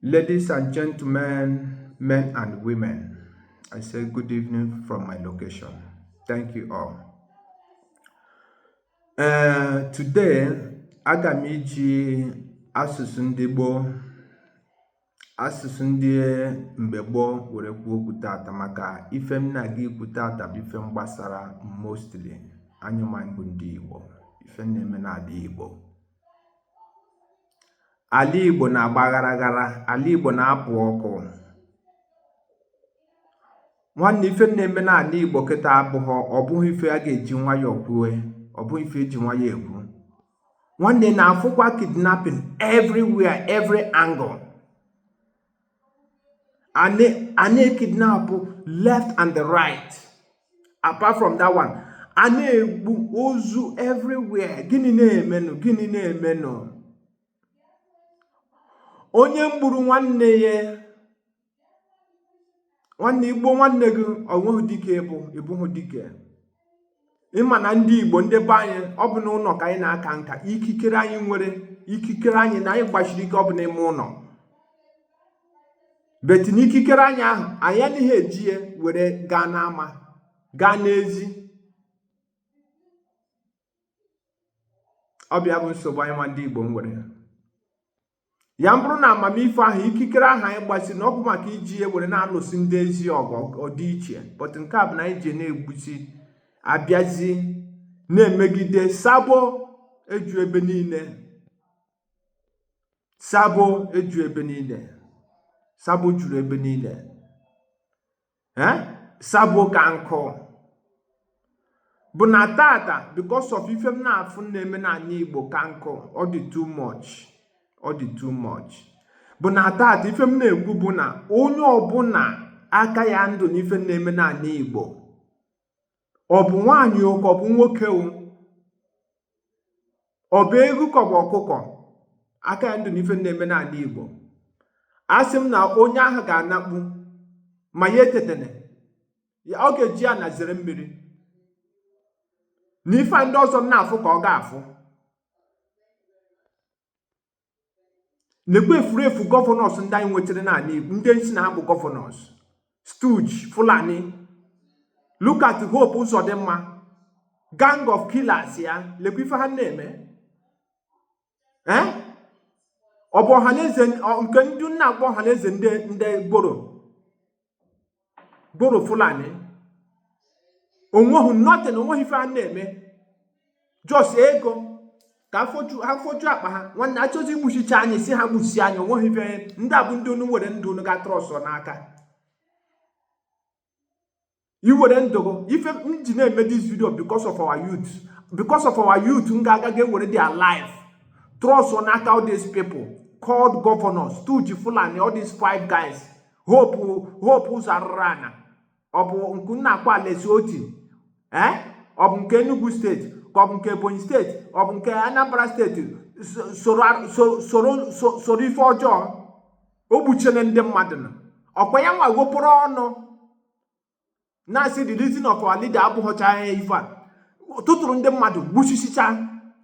Ladies and gentlemen, men and women, I say good evening from my location. Thank you all. Uh, today, aga m iji asụsụ ndị gboo asụsụ ndị mgbe gboo were kwuo okwu tata maka ife m na-aga ikwu tata bụ ife gbasara mostly anyị nwa bụ ndị Igbo ife na-eme n'ala Igbo Ala Igbo na-agba ghara ghara, ala Igbo na-apụ ọkụ. Nwanne ife na-eme n'ala Igbo kịta abụghọ ọ bụghị ife a ga-eji nwayọọ kwue, ọ bụghị ife eji nwayọọ ekwu. Nwanne na-afụkwa kidnapping everywhere, every angle. a na-ekidnapụ left and the right apart from that one a na-egbu ozu everywhere gịnị na-emenụ gịnị na-emenụ onye mgburu nwanne ya nwanne i gbuo nwanne gị o nwehụ dike ị bụ ị bụghị dike ị ma na ndị igbo ndị be anyị ọ bụ na ụlọ ka anyị na-aka nka ikikere anyị nwere ikikere anyị na anyị gbasiri ike ọ bụ n'ime ụlọ but na ikikere anyị ahụ anyị anaghị eji ya were gaa n'ama gaa n'ezi ọ bụ ya bụ nsogbu anyị nwa ndị igbo nwere ya bụrụ na amamife ahụ ikikere ahụ anyị gbasi na ọ bụ maka iji ya were na-alụsi ndị ezi ọgụ ọ dị iche but nke a bụ na anyị ji na-egbusi a bịazi na-emegide sabo eju ebe niile sabo eju ebe niile sabo juru ebe niile sabo ka nkụ bụ na tata because of ife m na-afụ na-eme n'ala Igbo ka nkụ ọ dị too much ọ dị too much bụ na tata ife m na-ekwu bụ na onye ọbụla aka ya ndụ n'ife na-eme n'ala Igbo ọ bụ nwaanyị o ka ọ bụ nwoke o ọ bụ eghu ka ọ bụ ọkụkọ aka ya ndụ na ife na-eme n'ala Igbo asị m na onye ahụ ga-anakpu ma ya etetene ọ ga-eji ana zere mmiri na ife ndị ọzọ na-afụ ka ọ ga-afụ lekwa efurefu gọvanọs ndị anyị nwetara n'ala Igbo ndị nsị na ha bụ gọvanọs stooge Fulani look at Hope Uzodimma gang of killers ya lekwa ife ha na-eme eh? ọ bụ ọhaneze nke ndị na-akpọ ọhaneze ndị ndị gboro bụrụ fulani onweghị nothing onweghị ife a na-eme just ego ka ha foju akpa ha nwanne achọzi igbuchicha anyị si ha gbusi anyị onweghị ife ndị a bụ ndị unu were ndụ unu ga trust n'aka iwere ndụ ife m ji na-eme this video because of our youth because of our youth na-aga ga ewere their life trust n'aka all these people called governors stooge fulani all these five guys hope hope ụzọ arụrụ ana ọ bụ nke a na-akpọ alex otti ee ọ bụ nke enugu steeti ka ọ bụ nke ebonyi steeti ọ bụ nke anambra steeti soro ife ọjọọ o gbuchene ndị mmadụ na ọkwa ya nwa wepụrụ ọnụ na-asị the release of our leader abụghọcha ya ife a tụtụrụ ndị mmadụ gbuchisicha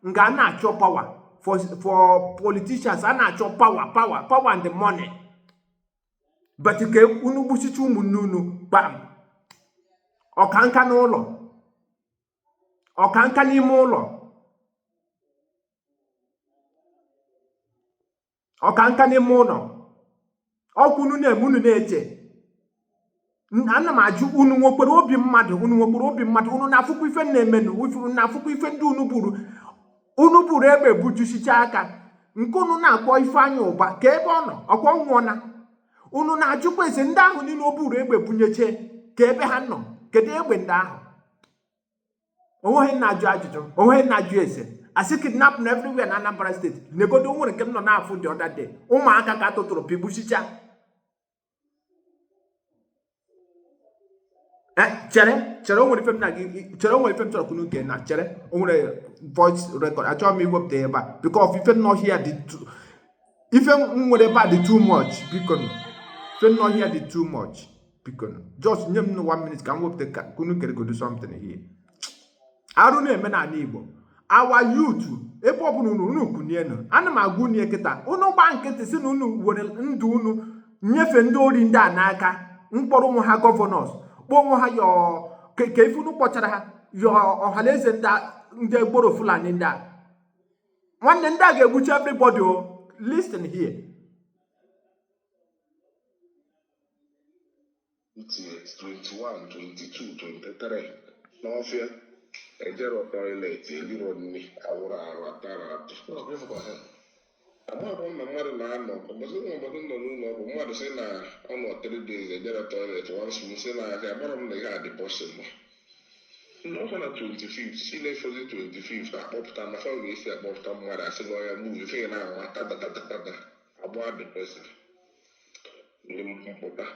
nga a na-achọ power for for politicians a na-achọ power power power and money but ka unu gbuchicha ụmụnne unu kpam ọkanka n'ụlọ ọkanka n'ime ụlọ ọka nka n'ime ụlọ ọkwa unu na-eme unu na-eche ana m ajụ unu nwekwere obi mmadụ unu nwekwere obi mmadụ unu na-afụkwa ife na-emenụ unu na-afụkwa ife ndị unu buru unu buru egbe bujusicha aka nke unu na-akpọ ifeanyị ụba kee ebe ọ nọ ọkwa ọ nwụọna unu na-ajụkwa ese ndị ahụ niile o buru egbe bunyeche kee ebe ha nọ kedu egbe ndị ahụ onweghị na-ajụ ajụjụ onweghị na-ajụ ese asị kidnapping everywhere na Anambra steeti negodo nwere nke m nọ na-afụ the other day ụmụaka ka atụtụrụ pigbuchicha eh, chere chere onwere ife m na gị chere onwere ife m chọrọ ka unu nekene chere onwere voice record achọrọ m iwepụta ebe a because ife nọ here dị ife m nwere ebe a dị too much biko ife nọ here dị too much biko just nye m one minute ka m wepụta ka unu geregodo something here arụ na-eme n'ala Igbo our youth ebe ọ bụla unu unu kunienu ana m agwa unu kịta unu gba nkịtị si na unu were ndụ unu nyefe ndị ori ndị a n'aka kpọrọ onwe ha governors kpọọ onwe ha yọọ kee ife unu kpọchara ha yọọ ọhanaeze ndị gboro fulani ndị a nwanne ndị a ga-egbucha everybody o listen here 21, 22, 23 n'ọfịa ejero toilet eliro nri awụrọ arụ atarọ atụ amaghịkwa m na mmadụ na-anọ ụbọchị nwe ụbọchị m nọ n'ụlọ ọgwụ mmadụ sị na ọ nọ 3 days ejero toilet once m sị na ihe a amarọ m na ihe a dị possible nna ọkwa na 25 si na-efozi 25 akpọpụta maka ọ ga-esi akpọpụta mmadụ asị gị ọya move ife ị na-anụ tadadadada agba the person Ndị mpụta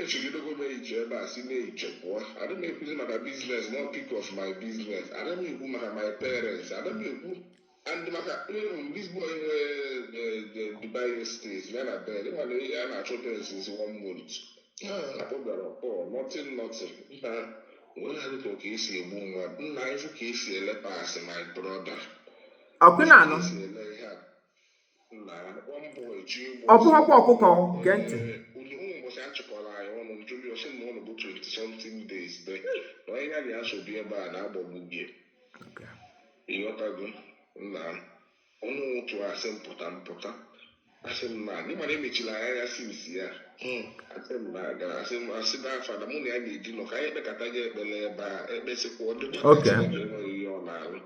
echegidego m echiche ebe a si n'echiche pụọ. Adị m ekwuzi maka biznes not speak of my biznes. Ada m ekwu maka my parents. Ada m ekwu and maka even this boy nwe eh, Dubai estate ya na Ben. Ịma na a na-achọ Ben since one month. Ah, Akpọ bịara ọkpọ, nothing nothing. Nna wee na-adị ka ọ ka esi egbu mmadụ. Nna ịfụ ka esi ele pass my brother. Ọkwa ị na-anụ. ọ bụghịkwa ọkụkọ nke ntị ịghọtago nna ọnụ ụtụ asị m pụta m pụta asị m na anyị mara emechila anya ya si nsi ya hmm. asị m na gara asị m asị na afa na mụ na ya na-edi nọ ka anyị kpekata gị ekpele ebe a ekpesịkwa ọ dịkwa enweghị ihe ọ na-alụ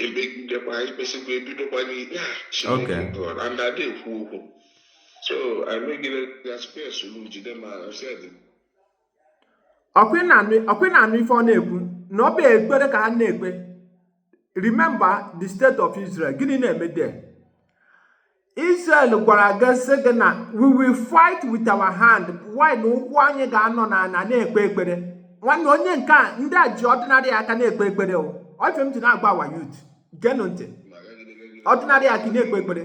ekpegidekwa ikpesikwa ebidokwa n'ikpe a Chineke God and ada ekwu okwu so emegide ya tupu esolu jide ma ọsịa dị ọkwa ị na-anụ ife ọ na-ekwu na ọ bụ ekpere ka ha na-ekpe remember the state of Israel gịnị na-eme there Israel gwara gị sị gị na we will fight with our hand while na ụkwụ anyị ga-anọ na ana na-ekpe ekpere nwanne onye nke a ndị a ji ọdịnarị aka na-ekpe ekpere o ọ ife m ji na-agba awa youth geenụ ntị ọdịnarị aka na-ekpe ekpere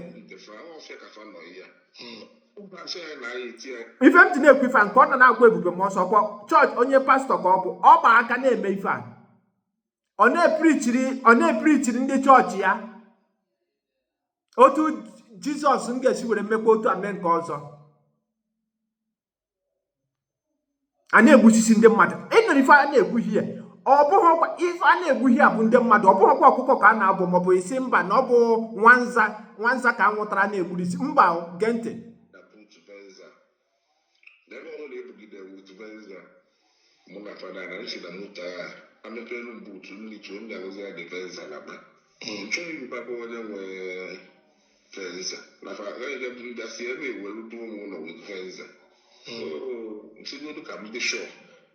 ife m ji na-ekwu ife a nke ọ nọ na-agwa Ebube Mụọnsọ kwa chọọchị onye pastọ ka ọ bụ ọ gba aka na-eme ife a ọ na-eprichiri ọ na-eprichiri ndị chọọchị ya otu jizọs m ga-esi were mmekwa otu a mee nke ọzọ a na-egbusisi ndị mmadụ ịnụrụ ife a na-egbu here ọ bụghịkwa ife a na-egbu here bụ ndị mmadụ ọ bụghịkwa ọkụkọ ka a na-abụ maọbụ isi mba na ọ bụ nwanza nwanza ka a nwụtara na-egburu isi mba gee ntị N'ebe ọbụla e bugidere m with Venza, mụ na Fada na nsi na moto a, a mepeelu m buutu, m rituo, m nyalụzịa the Venza naba. M chọọ ịjụkwa be onye nwe Venza, na fa agaghị bịa buru bịa si ebe a ewere duo m ụlọ with Venza. So, m sịgodu ka m dị sure.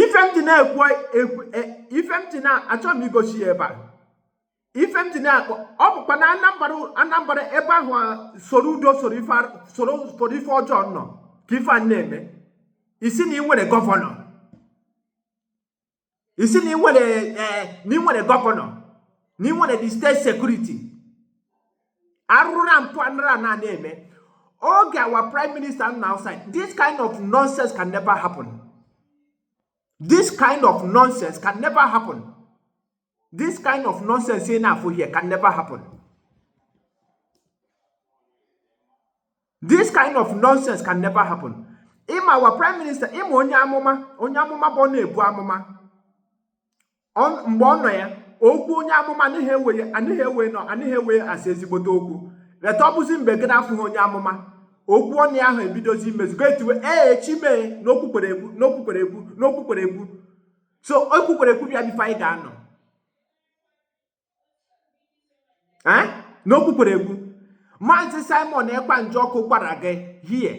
ife m ji na-ekwu e, ife m ji na-achọ m igosi ya ebe a ife m ji na-akpọ ọ bụkwa na anambara anambara ebe ahụ soro udo soro ife ọjọọ nọ ka ife a na-eme ị sị na ị nwere gọvanọ ị sị na ịnwere eh, na ịnwere gọvanọ na ịnwere the state security arụrụ na mpụ anara na-eme oge our prime minister nọ outside this kind of nonsense can never happen this kind of nonsense can never happen this kind of nonsense ị na-afụ here can never happen this kind of nonsense can never happen ị ma our prime minister ị ma onye amụma onye amụma bụ ọ na-ebu amụma mgbe ọ nọ ya okwu onye amụma anaghị ewe anaghị ewe nọ anaghị ewe asị ezigbote okwu later ọ bụzi mgbe gị na-afụghị onye amụma okwu ọnụ ahụ ebidozi imezugo e tiwe ee chi m e na o kwukwere ekwu na o kwukwere ekwu na o kwukwere ekwu so o kwukwere ekwu bịa bụ ife anyị ga-anụ eh? na o kwukwere ekwu maazị simon ekpa njọkụ gwara gị ihe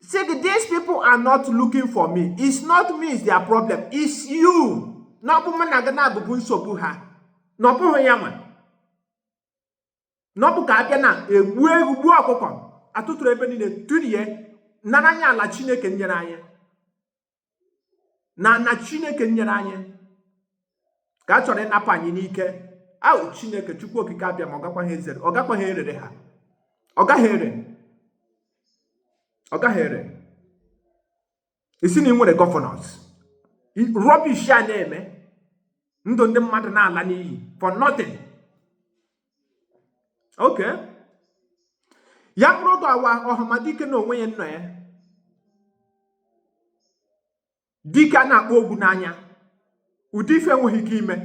sị gị these people are not looking for me it's not me is their problem it's you na ọ bụ mụ na gị na-abụbu nsogbu ha na ọ bụghị ya nwa na ọ bụ ka a bịa na-egbu ewu gbuo ọkụkọ atụtụrụ ebe niile turie nara anyị ala chineke nyere anyị na ala chineke nyere anyị ka a chọrọ ịnapụ anyị n'ike ahụ chineke chukwu okike abịama ọ gakwaghị ezere ọ gakwaghị erere ha ọ gaghị ere ọ gaghị ere ị sị na ị nwere governors rubbish a na-eme ndụ ndị mmadụ na-ala n'iyi for nothing okay ya bụrụ oge our ọhamadike na onwe ya nọ ya dike a na-akpọ ogwu n'anya ụdị ife enweghị ike ime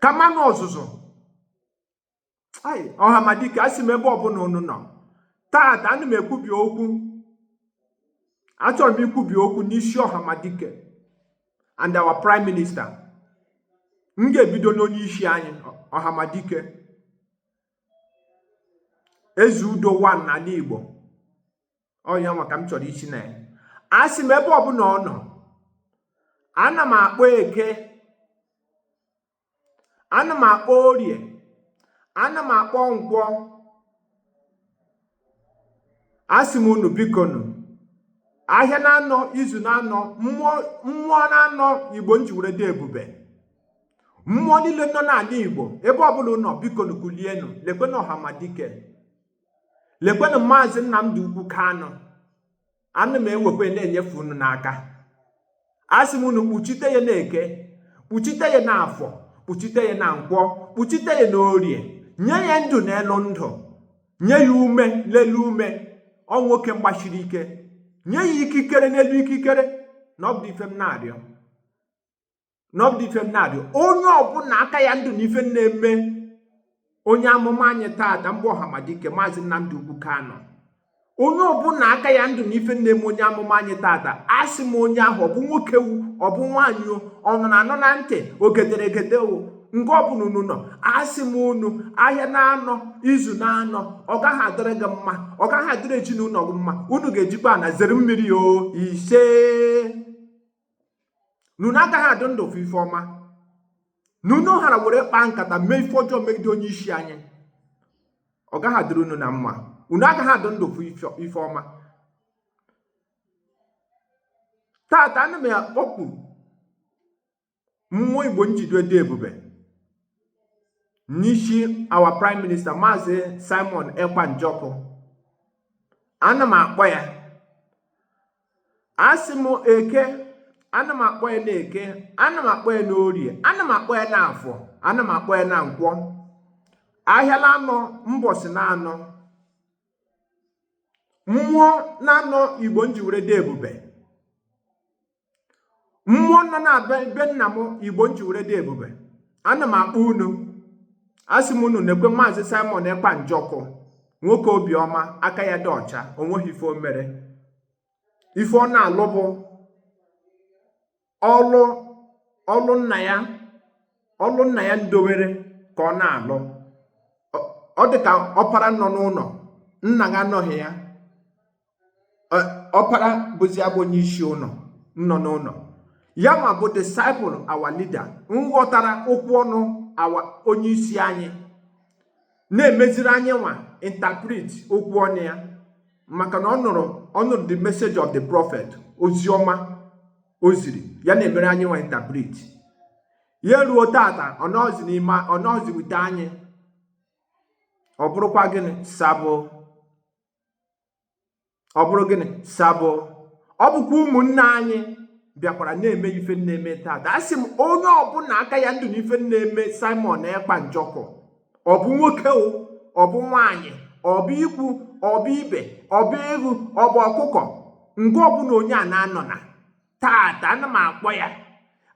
kama na ọzụzụ ai ọhamadike asị m ebe ọbụla unu nọ taata ana m ekwubi okwu achọrọ m ikwubi okwu n'isi ọhamadike and our prime minister m ga-ebido n'onye isi anyị ọhamadike eze udo one n'ala igbo ọ nya nwa ka m chọrọ isi na ya asị m ebe ọbụla ọ nọ ana m akpọ eke ana m akpọ orie ana m akpọ nkwọ asị m unu bikonu ahịa naanọ izu naanọ mmụọ naanọ igbo ji were dị ebube mmụọ niile nọ n'ala igbo ebe ọbụla unu nọ bikonu kulienu lekwenụ ọhamadike lekwenụ maazị nnamdi okwu kanu ana m ewekwa na-enyefe unu n'aka asị m unu kpuchite ya n'eke kpuchite ya n'afọ kpuchite ya na nkwọ kpuchite ya na orie nye ya ndụ n'elu ndụ nye ya ume n'elu ume ọ nwoke gbasiri ike nye ya ikikere n'elu ikikere na ọ bụ ife m na-arịọ na ọ bụ ife m na-adị onye ọbụla aka ya ndụ na ife na-eme onye amụma anyị taata mbụ ọhamadike maazị Nnamdi Okwu Kanu onye ọbụla aka ya ndụ na ife na-eme onye amụma anyị taata asị m onye ahụ ọ bụ nwoke wu ọ bụ nwaanyị o ọ nọ na anọ na ntị o gedere egede o nke ọbụla unu nọ asị m unu ahịa na-anọ izu na-anọ ọ gaghị adịrị gị mma ọ gaghị adịrị ezinụlọ gị mma unu ga-ejikwa ana zere mmiri o ise na unu agaghị adị ndụ fụ ife ọma na unu hara were kpaa nkata mee ife ọjọọ megide onye isi anyị ọ gaghị adịrị unu na mma unu agaghị adị ndụ fụ ife ọma tata ana m akpọku mmụọ igbo nji were dị ebube n'isi our prime minister maazị simon ekpa njọkụ ana m akpọ ya asị m eke ana m akpọ ya na eke ana m akpọ ya na orie ana m akpọ ya na afọ ana m akpọ ya na nkwọ ahịa na anọ mbọsị na anọ mmụọ na anọ igbo nji were dị ebube mmụọ nọ na be nna m igbo nji were dị ebube ana m akpọ unu asị m unu nekwe maazị simon ekpa njọkụ nwoke obiọma aka ya dị ọcha o nweghị ife o mere ife ọ na-alụ bụ ọlụ ọlụ nna ya ọlụ nna ya ndowere ka ọ na-alụ ọ dị ka ọpara nọ n'ụlọ nna ya anọghị ya ọpara bụzi abụ onye isi ụlọ nọ n'ụlọ ya ma bụ disciple our leader nghọtara okwu ọnụ our onye isi anyị na-emeziri anyị nwa interpret okwu ọnụ ya maka na ọ nụrụ ọ nụrụ the message of the prophet ozi ọma o ziri ya na-emere anyị nwa interpret ya ruo tata ọ nọzi n'ime ọ nọzi wute anyị ọ bụrụkwa gịnị sabo ọ bụrụ gịnị sabo ọ bụkwa ụmụnne anyị bịakwara na-eme ife na-eme taata asị m onye ọbụla aka ya ndụ n'ife na-eme Simon Ekpa Njọkụ ọ bụ nwoke o ọ bụ nwaanyị ọ bụ ikwu ọ bụ ibe ọ bụ ewu ọ bụ ọkụkọ nke ọbụla onye a na-anọ na tata ana m akpọ ya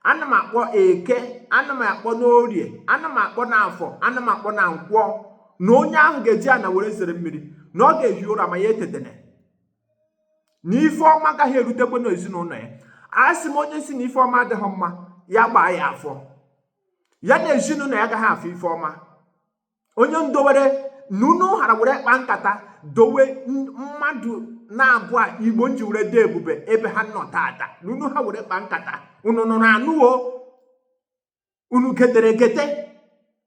ana m akpọ eke ana m akpọ n'orie ana m akpọ n'afọ ana m akpọ na nkwọ na onye ahụ ga-eji ana were zere mmiri na ọ ga-ehi ụra ma ya etetene na ife ọma agaghị erutekwe n'ezinụlọ ya asị m onye sị na ife ọma adịghị mma ya gbaa ya afọ ya na ezinụlọ ya agaghị afụ ife ọma onye ndowere na unu hara were kpa nkata dowe mmadụ n'abụa igbo nji were dị ebube ebe ha nọ tata na unu ha were kpa nkata unu nọrọ anọ o unu gedere gete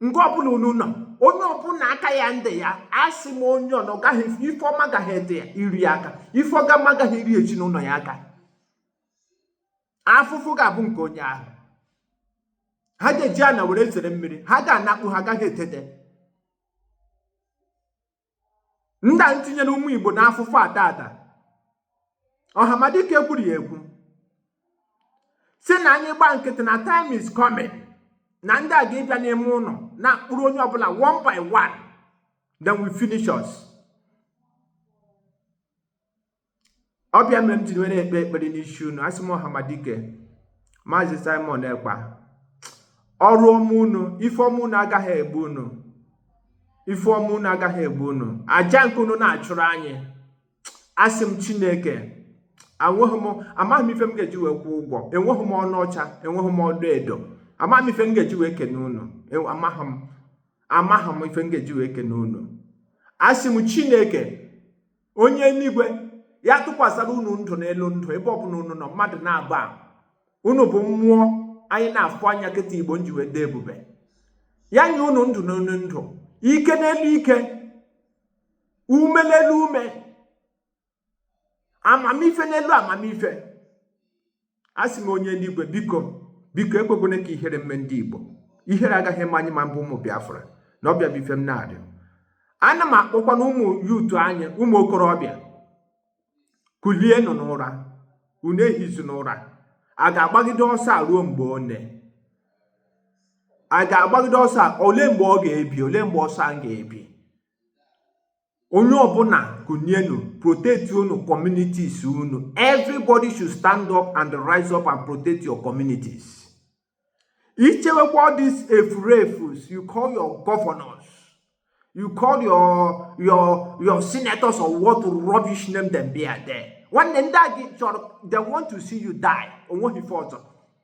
nke ọbụla unu nọ onye ọbụla aka ya ndị ya asị m onye ọ na ọ gaghị ife ọma gaghị iru ya aka ife ọgama gaghị iru ezinụlọ ya aka afụfụ ga-abụ nke onye ahụ ha ga-eji ana were zere mmiri ha ga-anakpu ha agaghị etete ndị a ntinyere ụmụ igbo n'afụfụ a tata ọhamadike kwuru ya ekwu si na anyị gba nkịtị na time is coming na ndị a ga-abịa n'ime ụlọ na-akpụrụ onye ọbụla one by one they will finish us. ọ bụ ya mere m ji were ekpe ekpere n'isi unu asị m ọhamadike maazị simon ekpa ọrụ ọma unu ife ọma unu agaghị egbu unu ife ọma unu agaghị egbu unu aja nke unu na-achụrụ anyị asị m chineke enweghị m amaghị m ife m ga-eji wee kwụọ ụgwọ enweghị m ọna ọcha enweghị m ọna edo amaghị m ife m ga-eji wee kene unu amaghị m amaghị m ife m ga-eji wee kene unu asị m chineke onye eluigwe ya tụkwasara unu ndụ n'elu ndụ ebe ọ bụla unu nọ mmadụ n'abụa unu bụ mmụọ anyị na-afụ anya kịta igbo nji wee dị ebube ya nye unu ndụ n'elu ndụ ike n'elu ike ume n'elu ume amamife n'elu amamife asị m onye eluigwe biko biko ekwekwene ka ihere mme ndị igbo ihere agaghị eme anyị nwa bụ ụmụ biafra na ọ bụ ya bụ ife m na-arịọ ana m akpọkwa na ụmụ youth anyị ụmụ okorobịa kulienụ n'ụra unu ehizina ụra a ga-agbagide ọsọ a ruo mgbe one a ga-agbagide ọsọ a ole mgbe ọ ga-ebi ole mgbe ọsọ a ga-ebi onye ọbụla kụnyenu protect unu communities unu everybody should stand up and rise up and protect your communities ichewekwa all these efurefus you call your governors you call your your your senators or what rubbish name them be are there nwanne ndị a gị chọrọ they want to see you die onweghị ife ọzọ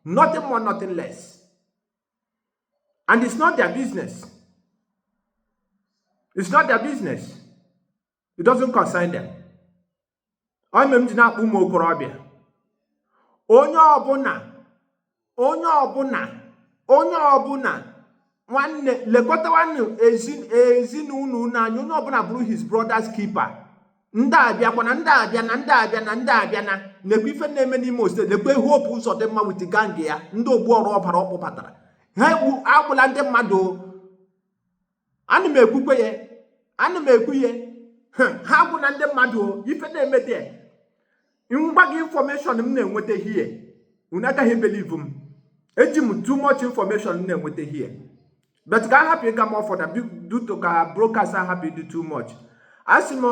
nothing more nothing less And it's not their business. It's not their business. It doesn't concern them. Ọ ya mere m ji na-akpọ ụmụ okorobịa. Onye ọbụla, onye ọbụla, onye ọbụla, nwanne lekọtawanụ ezinụlọ unu anya, onye ọbụla bụrụ his brother's keeper. ndị abịakwa na ndị abịa na ndị abịa na ndị abịa na nekwa ife na-eme n'imo state nekwa hope ụzọdịmma with gang ya ndị ogbu ọra ọbara ọ kpụbatara ha egbu agbụla ndị mmadụ ana m ekwukwe ya ana m ekwu ya ha agbụla ndị mmadụ ife na-eme dị m gwa gị information m na-enweta here unu agaghị believe m eji m too much information m na-enweta here but ka a hapụ ịga more further due to ka broadcast a hapụ ịdị too much asị m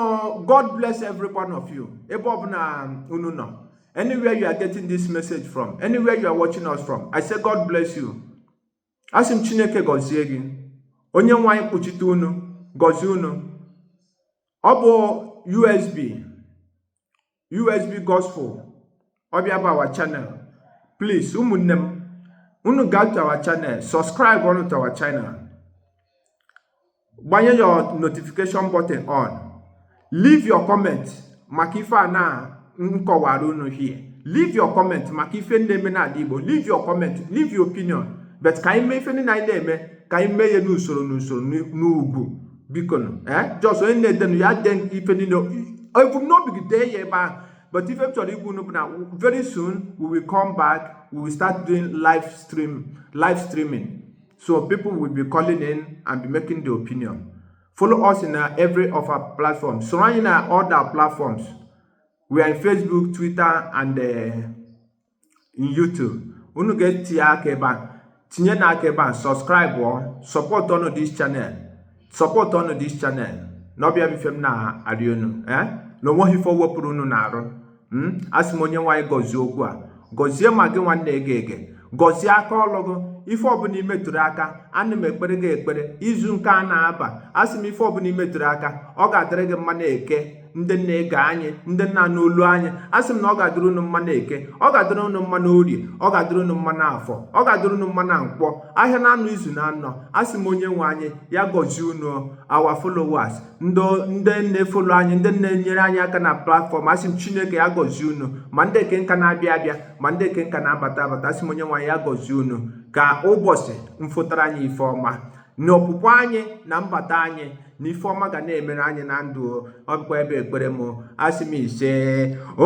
god bless every one of you ebe ọbụla unu nọ anywhere you are getting this message from anywhere you are watching us from i say god bless you asị m chineke gọzie gị onye nwe anyị kpuchite unu gọzie unu ọ bụ usb usb gospel ọ bụ ya bụ our channel please ụmụnne m unu gaa to our channel subscribe ọnụ to our channel gbanye your notification button on leave your comment maka ife a na m kọwara unu here leave your comment maka ife ndị na-eme n'ala igbo leave your comment leave your opinion but ka anyị mee ife niile anyị na-eme ka anyị mee ya n'usoro n'usoro n'ugwu bikonụ ee just onye na-edenụ ya dee ife niile ebumnobi gị dee ya ebe ahụ but ife m chọrọ ịgwa unu bụ na very soon we will come back we will start doing live stream live streaming so people will be calling in and be making their opinion follow us in uh, every of our platforms soro anyị na all our platforms we are in facebook twitter and uh, in YouTube unu ga-etinye aka ebe a tinyenụ aka ebe a subscribe ọ support ọnụ this channel support ọnụ this channel na ọ bụ ya bụ ife m na-arịọ unu eh? na o nweghị ife o wepụrụ unu n'arụ hmm? asị m onye nwe anyị gọzie okwu a gọzie ma gị nwa na-ege ege gọzie aka ọlụ gị ife ọbụla i metụrụ aka ana m ekpere gị ekpere izu nke a na-aba asị m ife ọbụla i metụrụ aka ọ ga-adịrị gị mma na eke ndị na-ege anyị ndị na-anụ olu anyị a sị m na ọ ga-adịrị unu mma na eke ọ ga-adịrị unu mma na orie ọ ga-adịrị unu mma na afọ ọ ga-adịrị unu mma na nkwọ ahịa na anọ izu na anọ a sị m onye nwe anyị ya gọzie unu our followers ndị na-efollow anyị ndị na-enyere anyị aka na platform asị m chineke ya gọzie unu ma ndị nke ka na-abịa abịa ma ndị nke ka na-abata abata asị m onye nwe anyị ya gọzie unu ka ụbọchị fotara anyị ife ọma na ọpụpụ anyị na mbata anyị na ifeọma ga na-emere anyị na ndụ ọ bụkwa ya bụ ekpere m asị m ise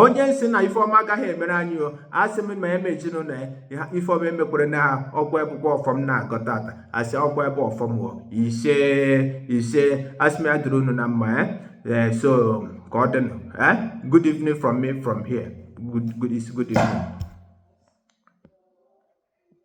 onye sị na ifeọma agaghị emere anyị o asị m ma ya ma ezinụlọ ya ifeọma emekwerena ọkwa ya bụkwa ọfọ m na-agọ tata asị ọkwa ya bụ ọfọ m ise ise asị m ya dịrị unu na mma eh? Eh, so ka ọ dịnụ eh? good evening from me from here good, good, good evening